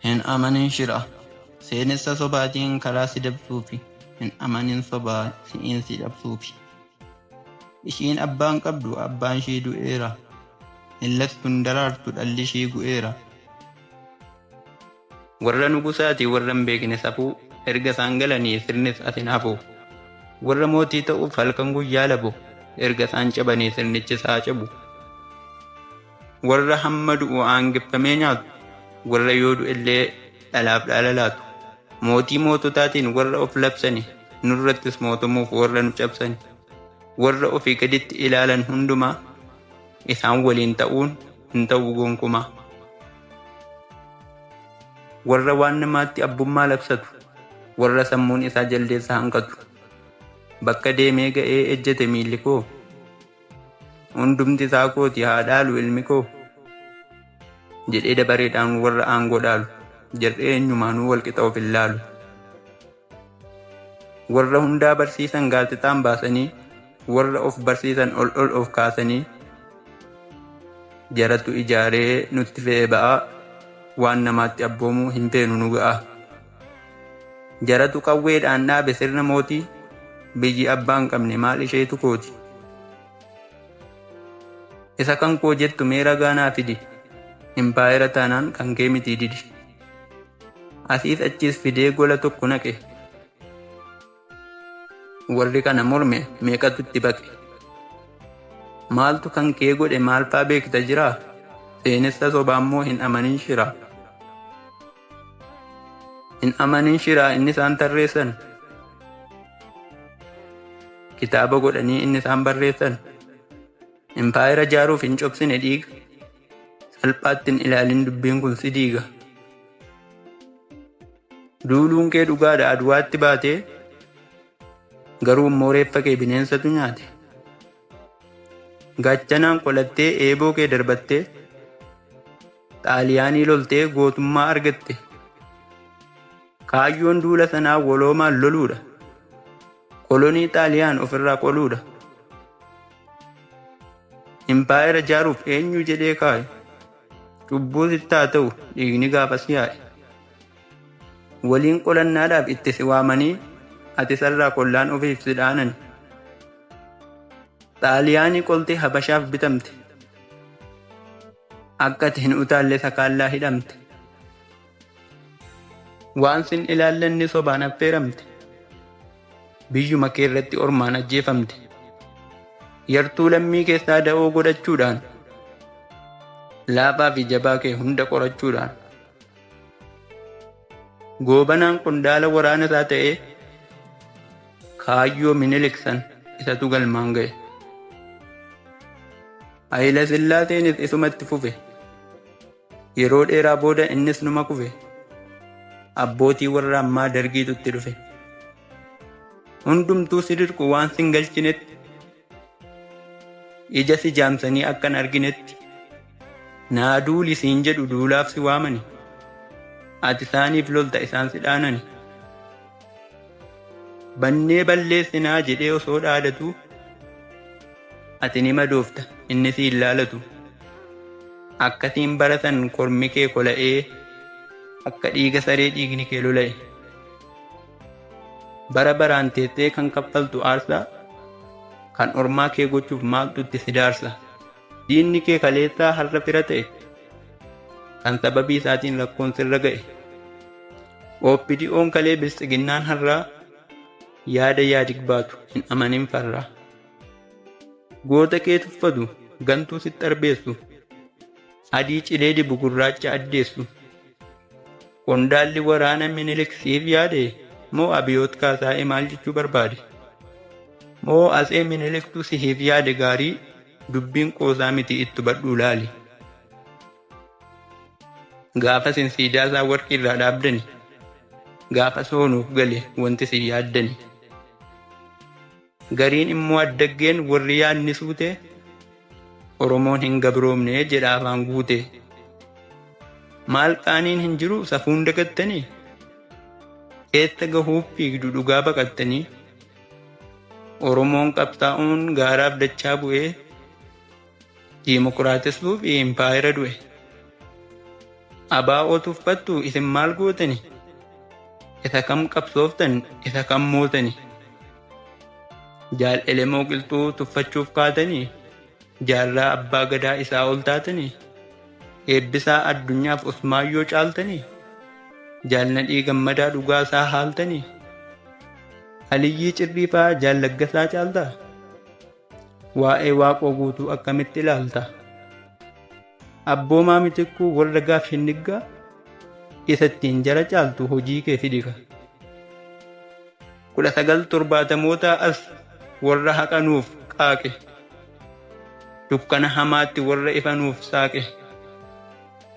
Hin amanin shira seenessa sobaatiin karaa si dabsuufi hin amanin soba si'iin si dhabsuufi ishiin abbaan qabdu abbaan ishii du'eera hin lattu hin daraartu dhalli ishii gu'eera warra nugusaati warra hin beekne safuu erga isaan galanii sirnis as hin hafu warra mootii ta'uuf halkan guyyaa labu erga isaan cabanii sirnichis haa cabu. Warra hamma du'u aangeffamee nyaatu, warra yoo du'ellee dhalaaf dhaala laatu, mootii moototaatiin warra of labsani, nurrattis mootomuuf warra nu cabsani, warra ofii gaditti ilaalan hundumaa, isaan waliin ta'uun hin ta'u gonkumaa. Warra waan namaatti abbummaa labsatu, warra sammuun isaa jaldeessa hanqatu, bakka deemee ga'ee ejjete miilli koo, Hundumti isaa kooti haa dhaalu ilmi koo jedhee dabareedhaan warra aangoo dhaalu. Jarri eenyumaanuu walqixa of hin laalu. Warra hundaa barsiisan gaazexaan baasanii, warra of barsiisan ol ol of kaasanii, jaratu ijaaree nutti fe'ee ba'aa, waan namaatti abboomuu hin feenu nu ga'aa. Jaratu qawweedhaan dhaabe sirna mootii, biyyi abbaa hin qabne maal isheetu kooti. Isa kan koo jettu mee ragaa naa fidi, impaayera taanaan kan kee mitii didi. Asiis achiis fidee gola tokko naqe. Warri kana morme meeqatu itti baqe? Maaltu kan kee godhe maalfaa beekta jiraa? Seenessa sobaa immoo hin amanin shiraa. Hin amanin shiraa inni isaan tarreessan. Kitaaba godhanii inni isaan barreessan. Impaayera jaaruuf hin cobsine dhiiga. Salphaatti hin ilaalin dubbiin kun si diiga. Duuluun kee dhugaadha Adwaatti baate garuu immoo reeffa kee bineensatu nyaate. Gaachanaan qolattee eeboo kee darbattee xaaliyaanii loltee gootummaa argatte. Kaayyoon duula sanaa waloomaan loluudha. Kolonii xaaliyaan ofirraa qoluudha. Impaayera jaaruuf eenyu jedhee kaaye? Cubbuu sitti haa ta'u dhiigni gaafas yaa'e. Waliin qolannaadhaaf itti si waamanii ati sarraa kollaan ofiif si dhaanani. Xaaliyaanii qoltee Habashaaf bitamte. Akka ati hin utaalle sakaallaa hidhamte. Waan sin ilaallenne sobaan affeeramte. Biyyuma kee irratti ormaan ajjeefamte. Yartuu lammii keessaa da'oo godhachuudhaan. Laafaa fi jabaa kee hunda qorachuudhaan. Goobanaan qondaala waraana isaa ta'ee kaayyoo miniliksan isatu galmaan ga'e. Hayila Sillaaseenis isumatti fufe. Yeroo dheeraa booda innis numa kufe. Abbootii warra ammaa dargiitu itti dhufe. Hundumtuu si dirqu waan sin galchinetti. Ija si jaamsanii akka hin arginetti. Naa duuli siin jedhu duulaaf si waamani. Ati isaaniif lolta isaan si dhaanani. Bannee balleessinaa jedhee osoo dhaadatuu ati ni madoofta inni si hin laalatu. Akkasiin bara san kormi kee kola'ee akka dhiiga saree dhiigni kee lola'e. Bara baraan teessee kan kaffaltu aarsaa kan ormaa kee gochuuf maaltu itti si daarsa. Diinni kee kaleessaa har'a fira ta'e kan sababii isaatiin rakkoon sirra ga'e. OPDO'n kalee biltsiginnaan har'aa yaada yaadig baatu hin amanin farraa. Goota kee tuffatu gantuu sitti arbeessu adii cilee dibu gurraacha addeessu. Qondaalli waraana Minilik siif yaade moo Abiyoot Kaasaa'ee maal jechuu barbaade? Moo Atsee Miniliktu siif yaade gaarii dubbiin qoosaa miti itti hubadhuu laali. Gaafa sin siidaa isaa warqii irraa dhaabdani. Gaafa soonuuf gale wanti sin yaaddani. Gariin immoo addaggeen warri yaadni suute Oromoon hin gabroomne jedha afaan guute. Maal qaaniin hin jiru safuun dagattanii? Eessa gahuuf fiigdu dhugaa baqattanii? Oromoon qabsaa'uun gaaraaf dachaa bu'ee Diimokiraatessuuf impaayera du'e. Abaa oo tuffattu isin maal gootani? Isa kam qabsooftan isa kam mootani? Jaal Elemoo Qilxuu tuffachuuf kaatanii? Jaarraa abbaa gadaa isaa ol taatanii? Eebbisaa addunyaaf Usmaayyoo caaltanii? Jaal Nadhii Gammadaa dhugaa isaa haaltanii? Aliyyii Cirriifaa jaal Laggasaa caaltaa? Waa'ee Waaqoo Guutuu akkamitti ilaalta? Abboomaa Mitikkuu warra gaaf shinniggaa isa ittiin jara caaltu hojii kee fidika. kudha sagal torbaatamootaa as warra haqanuuf qaaqe dukkana hamaatti warra ifanuuf saaqe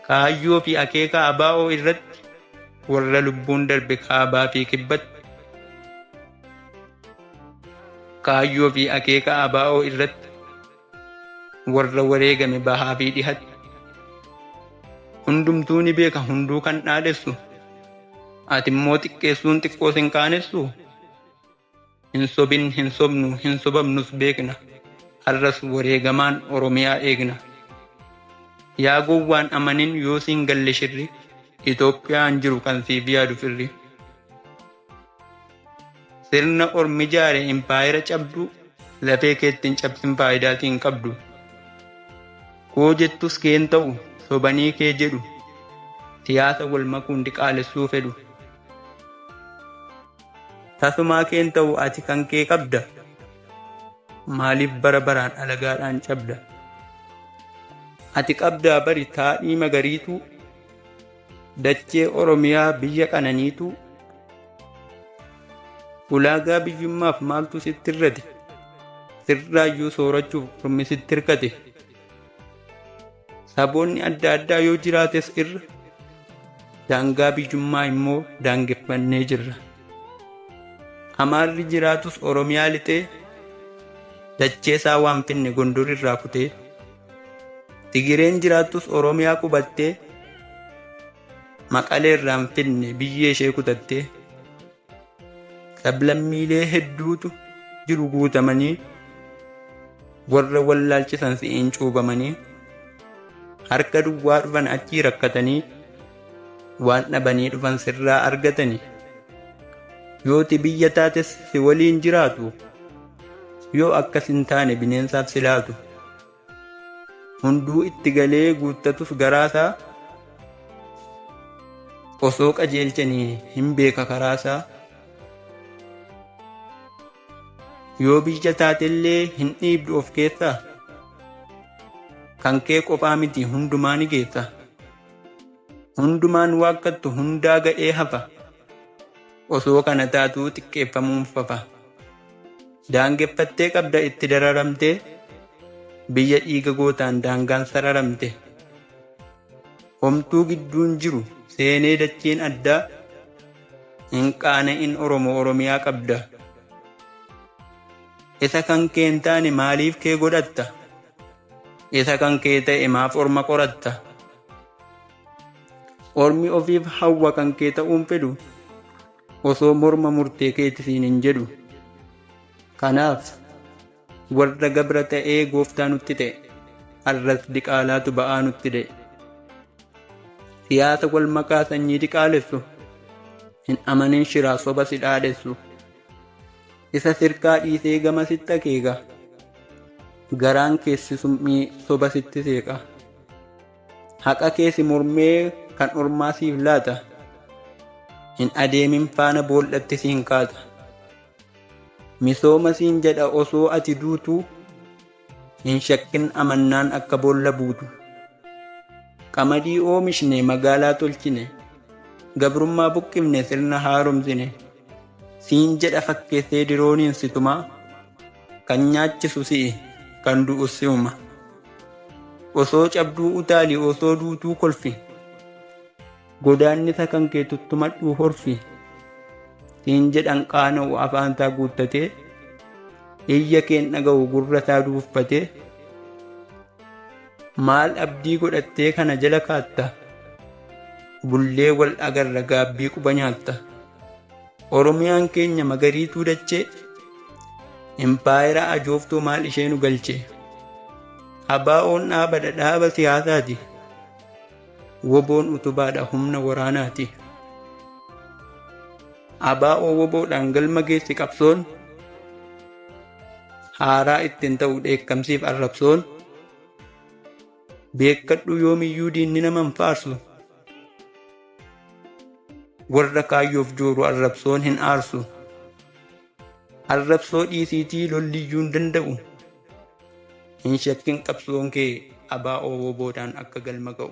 kaayyoo fi akeeka abaa'oo irratti warra lubbuun darbe kaabaa fi kibbatti Kaayyoo fi akeeka ABO irratti warra wareegame bahaa fi dhihatti hundumtuu ni beeka hunduu kan dhaadhessu ati immoo xiqqeessuun xiqqoo sin qaanessu hin sobin hin sobnu hin sobamnus beekna har'as wareegamaan oromiyaa eegna yaa gowwaan amanin yoo siin galle shirri Itoophiyaan jiru kan siif yaadu firri. Sirna ormi jaare impaayera cabduu lafee keetti hin cabsin faayidaatii hin qabdu. Koo jettus kee hin ta'u sobanii kee jedhu siyaasa wal makuun diqaalessuu fedhu. Tasumaa kee hin ta'u ati kan kee qabda maaliif bara baraan alagaadhaan cabda. Ati qabdaa bari taadhii magariituu Dachee Oromiyaa biyya qananiituu ulaagaa biyyummaaf maaltu sitti irrate sirraayyuu soorachuuf ormi sitti hirkate saboonni adda addaa yoo jiraates irra daangaa biyyummaa immoo daangeffannee jirra amaarri jiraatus oromiyaa lixee dachee isaa waan finne gondor irraa kutee Tigireen jiraattus Oromiyaa qubattee maqalee irraa hin fidne biyyee ishee kutattee sablammiilee hedduutu jiru guutamanii warra wallaalchisan si'iin cuubamanii harka duwwaa dhufan achii rakkatanii waan dhabanii dhufan sirraa argatanii yooti biyya taates si waliin jiraatu. Yoo akkas hin taane bineensaaf si laatu. Hunduu itti galee guuttatus garaasaa osoo qajeelchanii hin beeka karaasaa. Yoo biyya taatellee hin dhiibdu of keessaa. Kan kee qophaa miti hundumaa ni geessa. Hundumaan waakkattu hundaa ga'ee hafa. Osoo kana taatuu xiqqeeffamuun fafa. Daangeffattee qabda itti dararamtee biyya dhiiga gootaan daangaan sararamte. Homtuu gidduun jiru seenee dachiin addaa hin qaana'in Oromo Oromiyaa qabda. Isa kan kee hin taane maaliif kee godhatta? Isa kan kee ta'e maaf orma qoratta? Ormi ofiif hawwa kan kee ta'uun fedhu osoo morma murtee keeti siin hin jedhu. Kanaaf warra gabra ta'ee gooftaa nutti ta'e har'as diqaalaatu ba'aa nutti da'e. Siyaasa wal makaa sanyii diqaalessu hin amanin shiraa soba si dhaadhessu. Isa sirkaa dhiisee gama sitti akeeka garaan keessi summii soba sitti seeqa. Haqa kee si mormee kan ormaa siif laata. Hin adeemin faana boollatti siin kaata. Misooma siin jedha osoo ati duutu. Hin shakkin amannaan akka boolla buutu. Qamadii oomishne magaalaa tolchine. Gabrummaa buqqifne sirna haaromsine. Siin jedha fakkeessee dirooniin si tuma. Kan nyaachisu si'i kan du'us si'uma. Osoo cabduu utaali osoo duutuu kolfi godaannisa kan kee tuttumadhuu horfi siin jedhan qaana'u afaan isaa guuttatee iyya keen dhaga'u gurra isaa duuffatee maal abdii godhattee kana jala kaatta bullee wal agarra gaabbii quba nyaatta. Oromiyaan keenya magariituu dachee Impaayera ajooftuu maal ishee nu galche Abaa'oon dhaabadha dhaaba siyaasaati Woboon utubaadha humna waraanaati Abaa'oo woboodhaan galma geessi qabsoon Haaraa ittiin ta'u dheekkamsiif arrabsoon Beekkadhuu yoomiyyuu diinni naman faarsu Warra kaayyoof jooru arrabsoon hin aarsu. Arrabsoo dhiisiitii lolliyyuu hin danda'u. Hin shakkin qabsoon kee abaa ooboo boodaan akka galma ga'u.